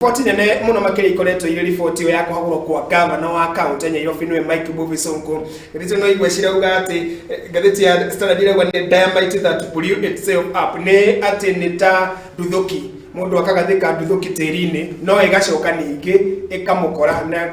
Riboti nene muno makĩria ikoretwo irĩ riboti ĩyo ya kũhagũrwo kwa gavana wa kaunti ya Nyairobi nĩwe Mike Mbuvi Sonko. Ngathĩti ĩno igwe cirauga atĩ eh, ngathĩti ya Standard irauga nĩ dynamite that blew itself up, nĩ atĩ nĩ ta nduthoki mũndũ akagathĩka nduthoki tĩri-inĩ no ĩgacoka ningĩ ĩkamũkora na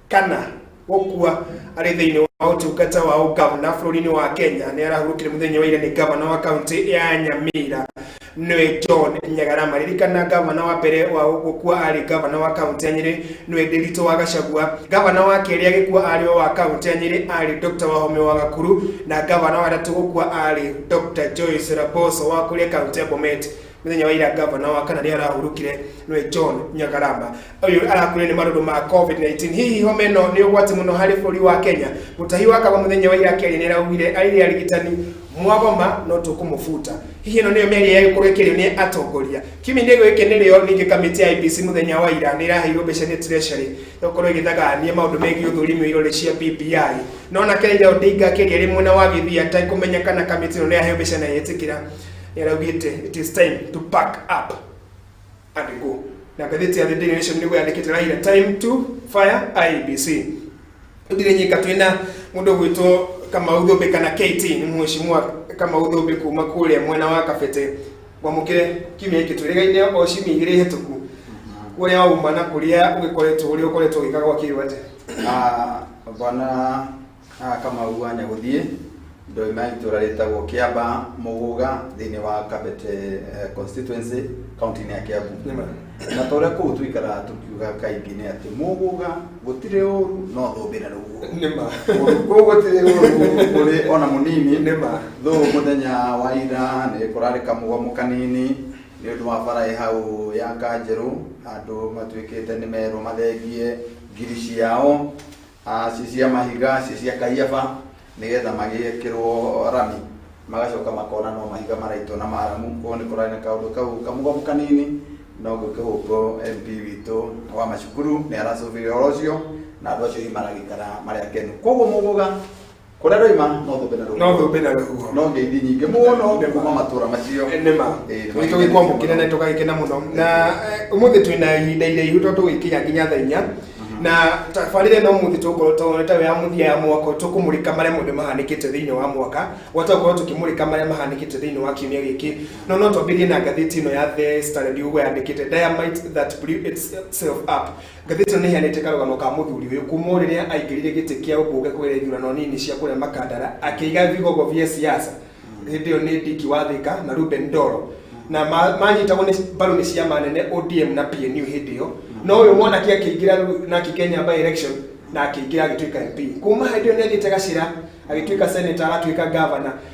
kana gũkua arĩ thĩinĩ wa ũtungata wa ũgavana bũrũri-inĩ wa kenya nĩ arahurũkire mũthenya wa ira nĩ gavana wa kaunti ya nyamira nĩwe john nyagara maririkana gavana wa mbere wa gũkua arĩ gavana wa kaunti ya nyĩrĩ nĩwe ndĩritũ wa gacagua gavana wa kerĩ agĩkua arĩ o wa kaunti ya nyĩrĩ arĩ dr wahome wa gakuru na gavana wa gatatũ gũkua arĩ dr joyce raboso wa kũrĩa kaunti ya bomet Mũthenya wa ira gavana wa kana nĩ arahurũkire nĩwe John Nyagarama ũyũ arakuire nĩ marũrũ ma COVID-19. Hihi homa ĩno nĩ ũgwati mũno harĩ bũrũri wa Kenya. Mũtahi wa kaba mũthenya wa ira Kenya nĩ araugire arĩ arigitani mwagoma no tũkũmũbuta. Hihi ĩno nĩyo mĩario ya gĩkorwo kĩrĩo nĩ atongoria. Kiumia-inĩ gĩkĩ nĩrĩo ningĩ kamĩtĩ ya IBC mũthenya wa ira nĩ ĩraheirwo mbeca nĩ Treasury gũkorwo ĩgĩthagania maũndũ megiĩ ũthũrimi wa irore cia BBI. No nake Raila Odinga akĩaria arĩ mwena wa Gĩthii atekũmenya kana kamĩtĩ ĩno nĩ yaheo mbeca na yetĩkĩra nĩaraugĩte it is time to pack up and go na ngathĩti ya the daily nation nĩguo yandĩkĩte raira time to fire ibc gũtirĩ nyika twĩna mũndũ ũgwĩtwo kamau thũmbĩ kana kt nĩ mũheshimiwa kamau thũmbĩ kuma kũrĩa mwena wa kabete gwamũkĩre kiumia gĩkĩ twĩrĩgaine o ciumia igĩrĩ hĩtũku kũrĩa wauma na kũrĩa ũgĩkoretwo ũrĩa ũkoretwo ũgĩkaga gwa kĩrĩu atĩa Ah, bwana Haha Kamau wa Nyagũthiĩ, ndoima itũra rĩtagwo Kĩamba Mũgũga thĩinĩ wa Kabete eh, constituency kaunti-inĩ ya Kiambu. Na ta ũrĩa kũu tũikaraga tũkiuga kaingĩ nĩ atĩ mũgũga gũtirĩ ũru no thũmbĩ na rũguo. Nĩ ma. Kũndũ kũu gũtirĩ ũru kũrĩ ona mũnini. Nĩ ma. Thũ mũthenya wa ira nĩ kũrarĩ kamũgomo kanini nĩ ũndũ wa bara ĩ hau ya Kanjerũ andũ matuĩkĩte nĩ merwo mathengie ngiri ciao Haaci cia mahiga cia cia Kaiafa, nĩgetha magĩkĩrwo rami, magacoka makona no mahiga maraitwo na maramu. Ũũ nĩ kũrarĩ na kaũndũ kau kamũgomu kanini, no gũkĩhũngwo MP witũ wa macukuru nĩ aracũthire ũhoro ũcio, na andũ acio hihi maragĩikara marĩ akenu. Koguo mũgũga. kũrĩa roima no thũmbe na no thũmbe na rũhuho no ngeithi nyingĩ mũno kuma matũra macio nĩma tũgĩkwambo kĩnene tũgagĩkena mũno na eh, ũmũthĩ twĩ na ihinda iraihu to tũgĩkinya nginya thaa inya mhm. na tabarĩre no mũthĩ tũgũkorwo tũreta ya mũthia ya mwaka tũkũmũrĩka marĩa mothe mahanĩkĩte thĩinĩ wa mwaka gwata gũkorwo tũkĩmũrĩka marĩa mahanĩkĩte thĩinĩ wa kiumia gĩkĩ no no twambĩrie na ngathĩti ĩno ya the standard ũguo yandĩkĩte diamite that blew itself up Ngathĩti ĩno nĩheanĩte karũgano ka mũthuri ũyũ kuma o rĩrĩa aingĩrire gĩtĩ kĩa ũmbunge kũgerera ithurano nini cia kũrĩa Makandara akĩiga vigogo vya siasa hĩndĩ ĩyo nĩ Dick Wathĩka na Ruben Ndoro na ma- manyitagwo nĩ mbaru nĩ ciama nene ODM na PNU hĩndĩ ĩyo no ũyũ mwanake akĩingĩra rĩu na akĩgenya by election na akĩingĩra agĩtuĩka MP kuma hĩndĩ ĩyo nĩathiĩte Gacĩra agĩtuĩka senator agatuĩka governor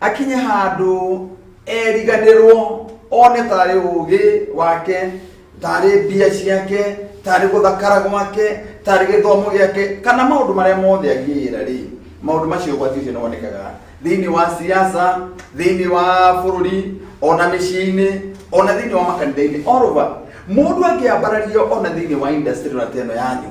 akinye handũ eriganĩrwo one tarĩ ũgĩ wake tarĩ mbia ciake tarĩ gũthakara gwake tarĩ gĩthomo gĩake kana maũndũ marĩa mothe agĩĩra rĩ maũndũ macio ũgwati ũcio nĩ wonekaga thĩinĩ wa siasa thĩinĩ wa bũrũri ona mĩciĩ-inĩ ona thĩinĩ wa makanitha-inĩ orova mũndũ angĩambarario ona thĩinĩ wa industry ona teno yanyu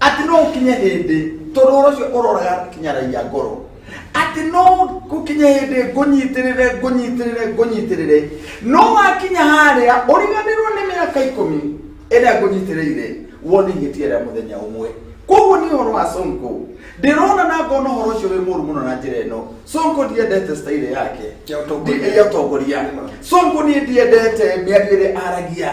atĩ no gũkinye hĩndĩ tondũ ũhoro ũcio ũroraga kinyaragia ngoro atĩ no gũkinye hĩndĩ ngũnyitĩrĩre ngũnyitĩrĩre ngũnyitĩrĩre no wakinya harĩa ũriganĩrwo nĩ mĩaka ikũmi ĩrĩa ngũnyitĩrĩire wone ingĩtiera mũthenya ũmwe koguo nĩ ũhoro wa sonko ndĩrona na ngona ũhoro ũcio wĩ mũru mũno na njĩra ĩno sonko ndiendete staire yake Ya ũtongoria. Ndi- ya ũtongoria sonko niĩ ndiendete mĩario ĩrĩa aragia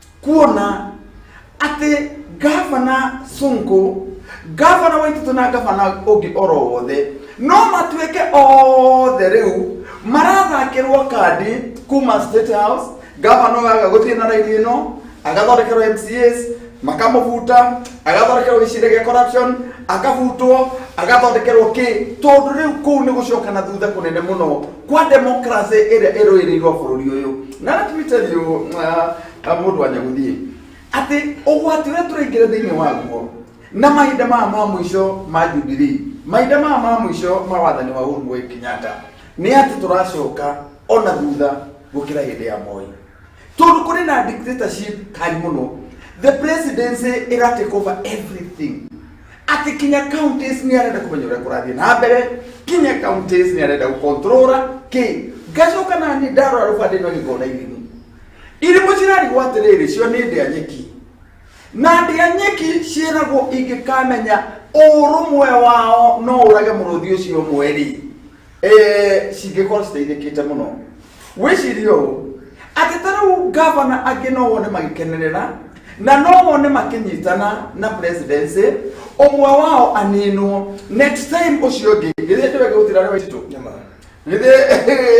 kuona atĩ gavana sonko gavana waititũ na gavana ũngĩ oro wothe no matuĩke othe rĩu marathakĩrwo kandi kuma state house gavana ũyũ aga gũthiĩ na raini ĩno agathondekerwo mcs makamũbuta agathondekerwo gĩcirĩ gĩa corruption akabutwo agathondekerwo kĩ tondũ rĩu kũu nĩ gũcokana thutha kũnene mũno kwa democracy ĩrĩa ĩrũĩrĩirwo bũrũri ũyũ na tũmĩtario mũndũ wa nyagũthiĩ atĩ ũgwati ũrĩa tũraingĩra thĩinĩ waguo na mahinda maya ma mũico ma jubilii mahinda maya ma mũico ma wathani wa Uhuru Muigai Kenyatta nĩ atĩ tũracoka ona thutha gũkĩra hĩndĩ ya Moi tondũ kũrĩ na dictatorship time mũno the presidency ĩra take over everything ati kinya counties ni arenda kumenya uria kurathie na mbere kinya counties ni arenda gukontrora ki ngacoka na ni ndarora rubande no ngikona irimu irimu cirarigwo atiriri cio ni ndia nyeki na ndia nyeki ciĩragwo ingĩkamenya ũrũmwe wao no ũrage mũrũthi ũcio ũmwe rĩ Eh, cingĩkorwo citeithĩkĩte mũno wĩcirie ũũ atĩ ta rĩu ngavana angĩ no wone magĩkenerera na no wone makĩnyitana na presidency ũmwe wao aninwo next time ũcio ũngĩ githĩ ndĩweke gũtira rĩ waititũ Nyama. githĩ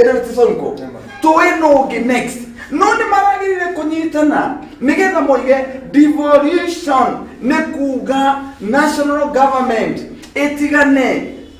rĩu ti sonko Nyama. tũĩ no ũngĩ next no nĩ maragĩrire kũnyitana nĩgetha moige devolution nĩ kuga national government ĩtigane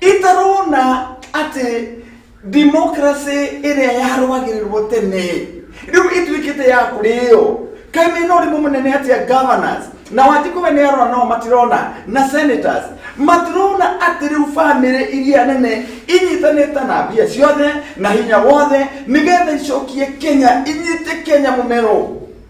itarona atĩ democracy ĩrĩa yarũagĩrĩrwo tene rĩu ĩtuĩkĩte ya kũrĩo kaĩ mena ũrimũ mũnene atĩa governors na wanjikũ we nĩ arora nao matirona na senators matirona atĩ rĩu bamĩrĩ iria nene inyitanĩte na mbia ciothe na hinya wothe nĩgetha icokie kenya inyite kenya mũmero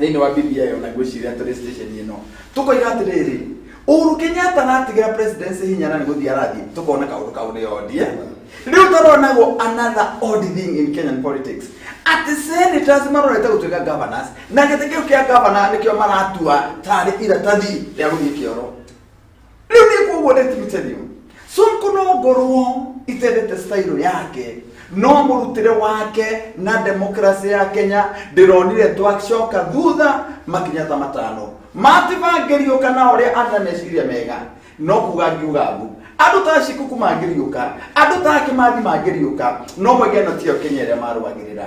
thĩinĩ wa bbi ona ngwĩciria tũrĩ station ĩno tũkoiga atĩrĩrĩ Uhuru Kenyatta natigĩra presidency hinya na nĩgũthiĩ arathiĩ tũkona kaũndũ kau nĩ odie rĩu taronagwo another odd thing in Kenyan politics atĩ senators marorete gũtuĩka governors na gĩtĩ kĩu kĩa governor nĩkĩo maratua tarĩ iratathi rĩa gũthiĩ kĩoro rĩu nĩ koguo nĩ tirutenio sonko no ngorwo itendete stairo yake no mũrutĩre wake na demokrasi ya kenya ndĩronire twacoka thutha makinya ta matano matibangĩriũka na ũrĩa arĩ na meciria mega no kuga ngiuga mbu andũ ta cikuku mangĩriũka andũ ta akĩmathi mangĩriũka no mwege ĩno tiyo kenya ĩrĩa marũagĩrĩra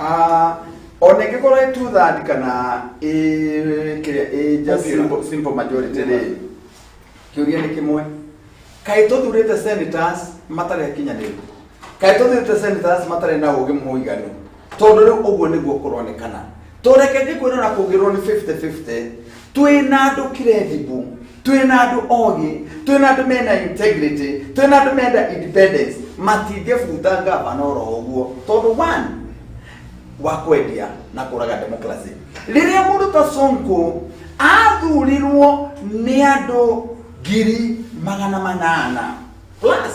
Ah, ona ingĩkorwo ĩ two third kana ĩ kĩrĩa ĩ just Popular. simple, simple majority rĩ kĩũria nĩ kĩmwe kaĩ tũthurĩte senators matarĩ akinyanĩru kaĩ tũthurĩte senators matarĩ na ũgĩ mũiganu tondũ rĩu ũguo nĩguo kũronekana tũreke njĩkwĩrwo na kũgĩrwo nĩ 50-50 twĩ na andũ credible twĩ na andũ ogĩ twĩ na andũ mena integrity twĩ na andũ menda independence matingĩbuta ngavana oro ũguo tondũ one wa kwendia na kũraga democracy rĩrĩa mũndũ ta sonko athurirwo nĩ andũ ngiri magana manana plus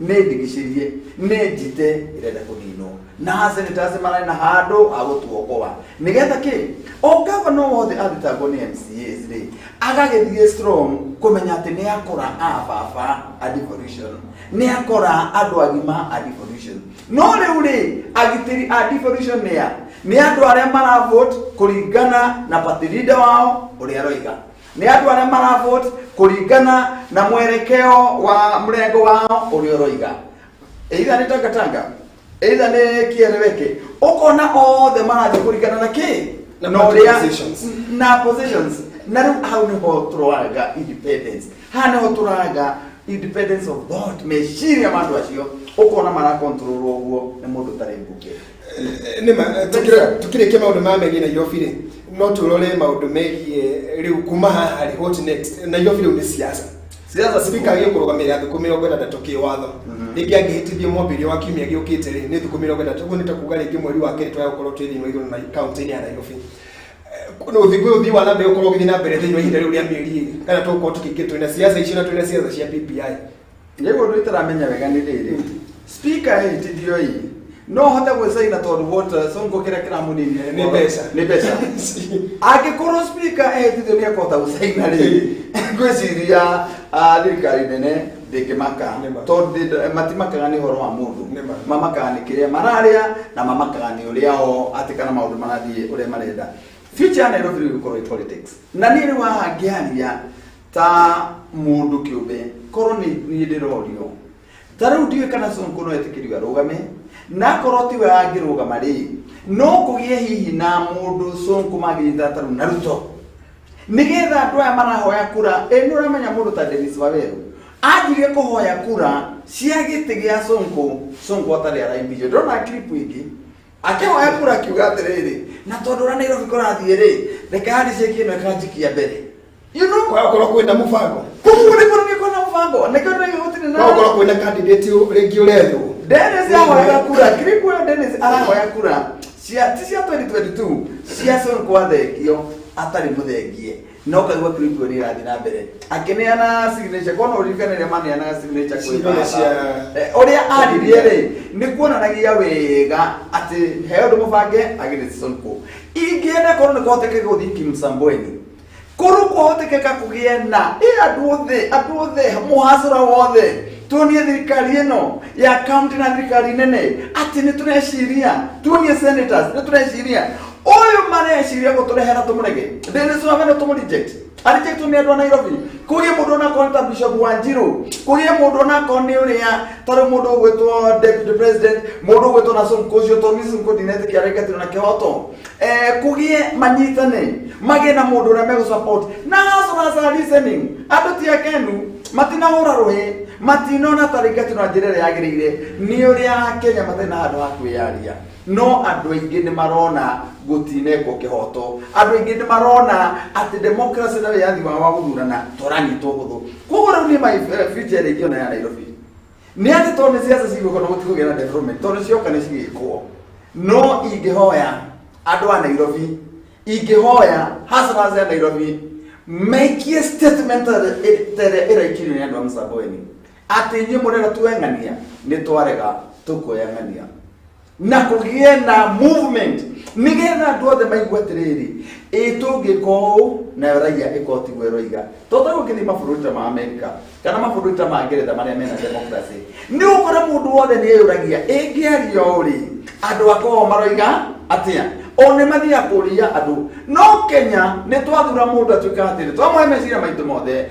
nĩndigicĩrie nĩnjite ĩrenda kũninwo na aseneta acio mararĩ na handũ ha gũtuokoa nĩgetha kĩ o gavana wothe athitangwo nĩ mcas rĩ agagĩthiĩ strong kũmenya atĩ nĩ akora a baba a devolution nĩ akora andũ agima a devolution no rĩu rĩ agitĩri a devolution nĩ a nĩ andũ arĩa maravote kũringana na party leader wao ũrĩa aroiga nĩ andũ arĩa maravote kũringana na mwerekeo wa mrengo wao ũrĩa ũroiga either nĩ tangatanga either nĩ kĩereweke ũkona othe marathiĩ kũringana na kĩ Na na party ũrĩa positions. na positions na rĩu hau nĩho tũroaga independence haha nĩho tũraga independence of thought meciria ma andũ acio ũkona marakontrolwo ũguo nĩ mũndũ ũtarĩ mbunge eh, nĩma eh, tũkĩre- tũkĩrĩkia maũndũ ma megiĩ nairobi rĩ no tũrore maũndũ megiĩ rĩu kuma haha rĩ what next nairobi rĩu nĩ siasa siasa spika agĩe kũrũgamĩrĩra thukũ mĩrongo ĩtandatũ kĩ watho rĩngĩ angĩhĩtithio mwambĩrĩrio wa kiumia gĩũkĩte rĩ nĩ thukũ mĩrongo ĩtandatũ ũguo nĩ ta kuga rĩngĩ mweri wa kerĩ twaya gũkorwo twĩ thĩinĩ wa igũrũ na kaunti-inĩ ya nairobi ũthigũ ũthii wa nambere ũkorwo ũgĩthiĩ na mbere thĩinĩ wa ihinda rĩu rĩa mĩeri ĩrĩ kana tũgũkorwo tũkĩingĩ twĩna siasa icio na twĩna siasa cia BBI rĩu ũndũ itaramenya wega nĩ rĩrĩ spika ĩhĩtithio ĩ no hote gwĩcaina tondũ vote songo kĩrĩa kĩramũninire Nĩ mbeca. nĩ mbeca angĩkorwo spika ĩhĩtithio nĩ ekũhota gũcaina rĩrĩ ngwĩciria ah, thirikari nene ndĩkĩmaka Nĩ ma. tondũ ndĩ- matimakaga nĩ ũhoro wa mũndũ Nĩ ma. mamakaga nĩ kĩrĩa mararĩa na mamakaga nĩ ũrĩa o atĩ kana maũndũ marathiĩ ũrĩa marenda future ya nairobi rĩu gũkorwo ĩ politics na niĩ rĩu haha ngĩaria ta mundu kiumbe korwo ni ni ndirorio ta riu ndiwe kana sonko no etikirio arugame na korwo tiwe angirugama ri no kugie hihi na mundu sonko magirita taru na ruto nigetha andu aya marahoya kura ĩ nĩ ũramenya mũndũ ta denis waweru anjire kũhoya kura cia gĩtĩ gĩa sonko sonko atarĩ araimbithio ndona clip ingĩ akĩhoya kura akiuga atĩrĩrĩ na tondũ ũrĩa nairobi kũrathiĩ rĩ reka handicĩki ĩno ĩkanjikia mbere you know kwa gũkorwo kwĩna mũbango kuguo nĩguo nĩgĩkorwo na mũbango nĩkĩo nĩgĩgũtirĩ na kwa gũkorwo kwĩna kandidati rĩngĩ ũrethwo Dennis ahoya kura kiri kuona Dennis arahoya kura cia ti cia 2022 cia Son kwa thengio atarĩ mũthengie no kaigua kirikio nä ĩrathiĩ na mbere akĩneana signature kona ũririkane rĩa maneanaga signature kwĩ Signature baba. cia- Eh, ũrĩa aririe rĩ nĩ kuonanagia wega atĩ he ũndũ mũbange agĩrĩte sonko ingĩenda korwo nĩ kũhoteke gũthiĩ kimsambweni korwo kũhotekeka kũgĩe na ĩ andũ othe andũ othe mũhacũra wothe tuonie thirikari ĩno ya kaunti na thirikari nene atĩ nĩ tũreciria tuonie senators nĩ tũreciria Uyu mareciria gutũrehera tũmũrege ndĩrĩcu amene tũmũreject arejectwo nĩ andũ a nairobi kũgĩe mũndũ onakorwo ta bishop wa njirũ kũgĩe mũndũ onakorwo nĩ ũrĩa tarĩ mũndũ ũgwĩtwo deputy president mũndũ ũgwĩtwo na sonko ũcio tondũ nĩ sonko ndinetĩkia areketirwo na kĩhoto Eh, kũgĩe manyitane magĩe na mũndũ ũrĩa megũsupport na as a listening andũ ti akenu matinahũra rũhĩ matinona tarĩngatino na njĩra ĩrĩa yagĩrĩire nĩ ũrĩa akenya matarĩ na handũ ha kwĩyaria No andũ aingĩ nĩ marona gũtinengwo kĩhoto. Andũ aingĩ nĩ marona atĩ democracy na wĩyathi wao wa gũthurana to ũranyitwo hũthũ. Koguo rĩu niĩ my eh, future ĩrĩa ingĩona ya Nairobi nĩ atĩ tondũ nĩ ciaca cigũka na gũtikũgĩa na development tondũ cioka nĩ cigĩkwo no ingĩhoya andũ a Nairobi ingĩhoya hustlers ya Nairobi maikie statement ĩrĩa ĩraikirio nĩ andũ a Msambweni Atĩ inyuĩ mũrĩra tuoe ng'ania nĩ twarega tũkuoya ng'ania na kũgĩe na movement nĩgetha andũ othe maigua atĩrĩrĩ ĩ tũngĩka ũũ nayo raiya ĩkorwo tiguo ĩroiga tondũ rĩu ũngĩthiĩ mabũrũri ta ma amerika kana mabũrũri ta ma ngeretha marĩa mena democracy nĩ ũkore mũndũ wothe nĩ eyũragia ĩngĩaria ũũ rĩ andũ akoragwo maroiga atĩa o nĩ mathiaga kũria andũ no kenya nĩ twathura mũndũ atuĩka atĩrĩ twamũhe meciria maitũ mothe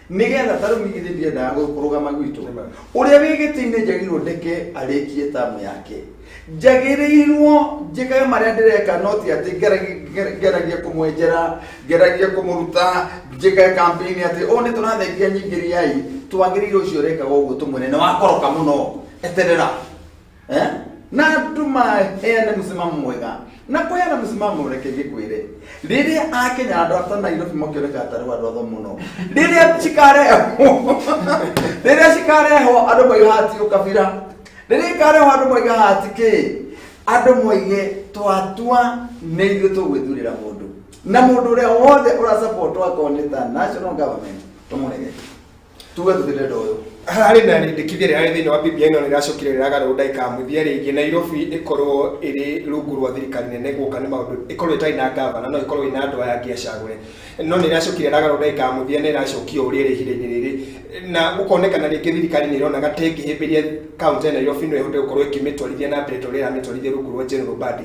nigetha ta riu githĩ ndiendaga kũ- kũrũgama gwitũ Amen. ũrĩa wĩ gĩtĩ-inĩ njagĩrĩirwo ndeke arĩkie tamu yake njagĩrĩirwo njĩkage marĩa ndĩreka no ti atĩ ngeragi- nger- ngeragie kũmwenjera ngeragie kũmũruta njĩkage kampeni atĩ o nĩ tũrathengia nyingĩriai twagĩrĩirwo ũcio ũrekaga ũguo tũmwĩre nĩ wakoroka mũno eterera eh? natuma heane mũsimamo mwega na kweana mũsimamo ũreke gĩkwĩre rĩrĩa akenya andũ ata nairobi makĩoneka atarĩ andũ atho mũno rĩrĩa cikarehwo rĩrĩa cikarehwo andũ moiga hati ũkabira rĩrĩa ikarehwo andũ moiga hati kĩ andũ moige twatua nĩ ithuĩ tũgwĩthurĩra mũndũ na mũndũ ũrĩa wothe ũrasapotwo akorwo nĩ ta national government tũmũrege tuge tũthirenda ũyũ harĩ na rĩndĩkithia rĩrarĩ thĩinĩ wa BBI no rĩracokire rĩragarũrwo ndaikamũthia rĩngĩ Nairobi ĩkorwo ĩrĩ rungu rwa thirikari nene gũka nĩ maũndũ ĩkorwo ĩtarĩ na ngavana no ĩkorwo ĩna andũ aya angĩ acagũre no nĩ ĩracokire ĩragarũrwo ndaikamũthia na ĩracokio ũrĩa ĩrĩ ihinda-inĩ rĩrĩ na gũkonekana rĩngĩ thirikari nĩ ĩronaga ta ĩngĩhĩmbĩria kaunti ya Nairobi no ĩhote gũkorwo ĩkĩmĩtwarithia na mbere ta ũrĩa ĩramĩtwarithia rungu rwa General Mbadi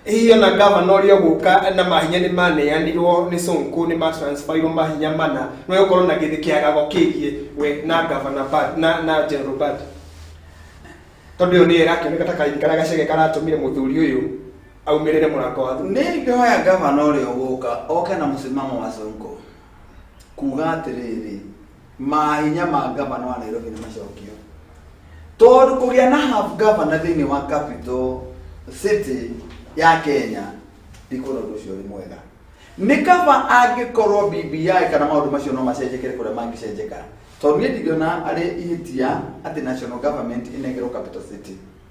Hihi ona ngavana ũrĩa ũgũka na mahinya nĩ maneanirwo nĩ Sonko nĩ matransferirwo mahinya mana no gũkorwo na gĩthĩ kĩagago kĩgiĩ we na ngavana Bad- na na General Bad tondũ ĩyo nĩyo ĩrakĩoneka ta kahinda karĩa gacege karatũmire mũthuri ũyũ aumĩrĩre mũrango wa thutha nĩ ingĩhoya ngavana ũrĩa ũgũka oke na mũsimamo wa sonko kuga atĩrĩrĩ Mahinya ma ngavana wa Nairobi nĩ macokio tondũ kũgĩa na half governor thĩinĩ wa capital city ya Kenya ndikuona ũndũ ũcio ũrĩ mwega nĩ kaba angĩkorwo BBI kana maũndũ macio no macenjekere kũrĩa mangĩcenjeka tondũ niĩ ndingĩona arĩ ihĩtia atĩ national government ĩnegerwo capital city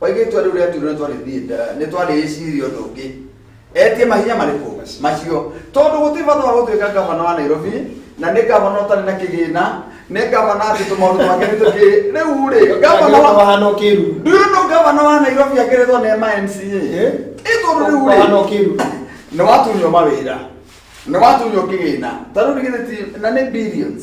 Oige itua rĩu rĩatuirwo nĩ twarĩthiĩ nda- nĩ twarĩcirie ũndũ ũngĩ etie mahinya marĩkũ macio tondũ gũtirĩ bata wa gũtuĩka ngavana wa nairobi na nĩ ngavana ũtarĩ na kĩgĩna nĩ ngavana atĩ tũmaũndũ twake nĩ tũkĩ rĩu rĩ ngavana wa Wahana ũkĩru. Do you know gavana wa Nairobi akeretwo nĩ MNCA? Eh? Ĩ tondũ rĩu Wahana rĩ. ũkĩru. Nĩ watunywo mawĩra. Nĩ watunywo kĩgĩna. Ta rĩu nĩ githĩ ti na nĩ billions.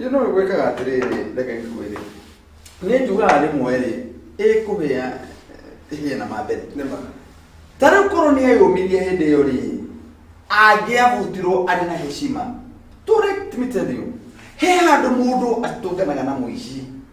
Ĩ no gwĩkaga atĩrĩrĩ reke ngue rĩ nĩ njugaga rĩmwe rĩ ĩkũhĩa ĩhĩe na mambere nĩ ma ta rĩu korwo nĩ eyũmirie hĩndĩ ĩyo rĩ angĩahutirwo arĩ na heshima to let me tell you he handũ mũndũ atũnganaga na mũici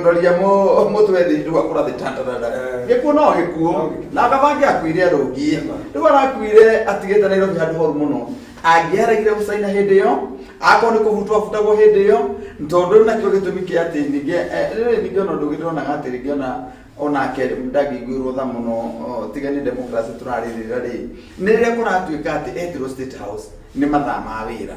ndoria mũtwe thĩ rĩu akũra thĩ tandarara Eh. gĩkuũ no gĩkuũ No gĩkuũ. na akabange akuire arũngie Ema. rĩu arakuire atigĩte nairobi handũ horu mũno angĩaregire gũcaina hĩndĩ ĩyo akorwo nĩ kũbutwo abutagwo hĩndĩ ĩyo tondũ rĩu nakĩo gĩtũmi kĩa atĩ ningĩ eh, rĩrĩ ningĩ ona ũndũ ũngĩ ndĩronaga atĩ rĩngĩ ona onake ndangĩiguĩrwo tha mũno o, tiga nĩ democracy tũrarĩrĩra rĩ nĩ rĩrĩa kũratuĩka atĩ etirwo state house nĩ mathaa ma wĩra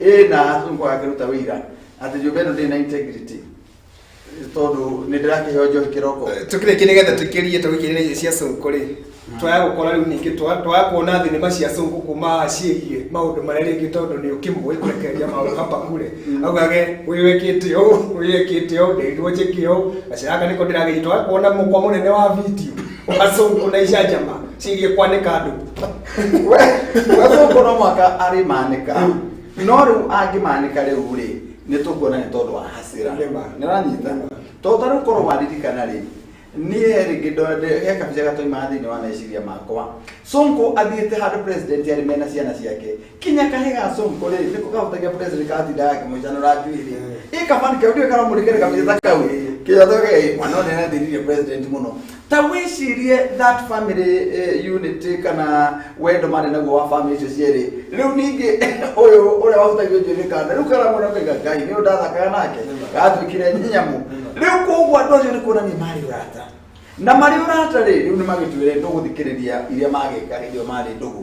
ĩ na rĩu kwaga kĩruta wĩira atĩ nyũmba ĩno ndĩrĩ na integrity tondũ nĩ ndĩrakĩheo njohi kĩroko tukire kine getha tukirie to gikire cia sonko ri twaya gukora riu ningi twa twaya kuona thinema cia sonko kuma ciigie maundu maria ringi tondu ni ukimwe kurekeria maundu hapa kule augage uyu wekite u uyu wekite u ndirwo njike u aciraka niko ndiragiri twaya kuona mukwa munene wa video wa sonko na icajama ciigie kwanika andu we we gũkũ no mwaka arĩmanĩka no rĩu angĩmanĩka rĩu rĩ nĩ tũkuona nĩ tondũ wa hasira Nĩ ma. nĩ ũranyita Nĩ ma. tondũ ta rĩu korwo waririkana rĩ niĩ rĩngĩ ndonde he kabica gatoima thĩinĩ wa meciria makwa sonko athiĩte handũ president arĩ mena ciana ciake kinya kahĩ ga sonko rĩ nĩko kahutagia president katinda gakĩmũcanũra njuĩ rĩ ĩ kabani kau ndiũĩ karamũrĩkĩre kabica ta kau kĩotho gei mwana ũrĩa nathĩnirie president mũno ta wĩcirie that family eh, unity kana wendo marĩ naguo wa family icio cierĩ rĩu ningĩ ũyũ ũrĩa wahutagio njuĩrĩ kanda rĩu kana mwana ũkaiga ngai nĩ ũndathakaga nake gatuĩkire nyamũ rĩu koguo andũ acio nĩ kuonania marĩ ũrata na marĩ ũrata rĩ rĩu nĩ magĩtuĩre ndũgũthikĩrĩria iria magĩka hĩndĩ ĩyo marĩ ndũgũ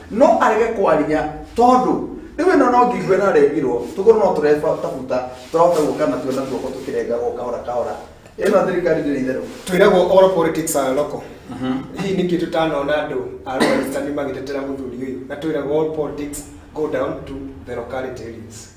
no arege kwaria tondũ rĩu ĩno no ngigue na regirwo tũkorwo no tũreba tabuta tũrahota gũka na tuona guoko tũkĩrengagwo kahora kahora ĩno thirikari ndĩrĩ itherũ twĩragwo all politics are local hihi nĩkĩ tũtanona andũ a Rwandani magĩtetera mũthuri ũyũ na twĩragwo all politics go down to the locality areas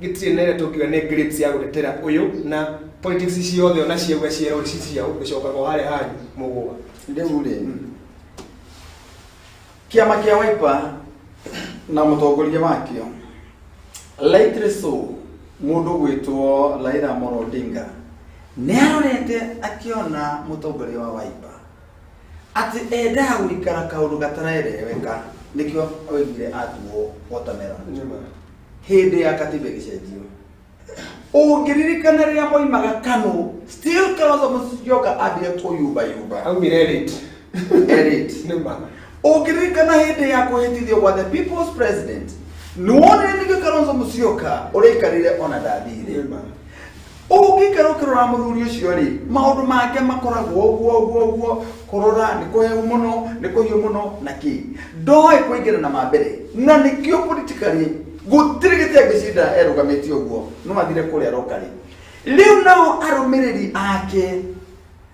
gĩtirĩ nene tũngiuga nĩ grades ya gũtetera ũyũ na politics ciothe ona ciauga ciero ici ciao gĩcokaga o harĩa hanyu mũgũa rĩu rĩ kĩama kĩa waipa na mũtongoria wakĩo likely so mũndũ gwĩtwo Raila Amolo Odinga nĩ arorete akĩona mũtongoria wa waipa atĩ endaga gũikara kaũndũ gatarereweka nĩkĩo oigire atuo watermelon hĩndĩ ya katiba ĩgĩcenjio ũngĩririkana rĩrĩa moimaga kano still kalonzo musyoka ambire kũyumbayumba aumire late Elite. nĩ ma ũngĩririkana hĩndĩ ya kũhĩtithio gwa the people's president nĩwonire nĩgĩ kalonzo musyoka ũrĩikarire ona ndathire Nĩ ma. ũngĩikara ũkĩrora mũthuri ũcio rĩ maũndũ make makoragwo ũguo ũguo ũguo kũrora nĩ kũheu mũno nĩ kũhiũ mũno na kĩ ndoĩ kũingĩra na mambere na nĩkĩo politikarĩ gũtirĩ gĩtĩ angĩcinda erũgamĩtie ũguo no athire kũrĩa rokarĩ rĩu nao arũmĩrĩri ake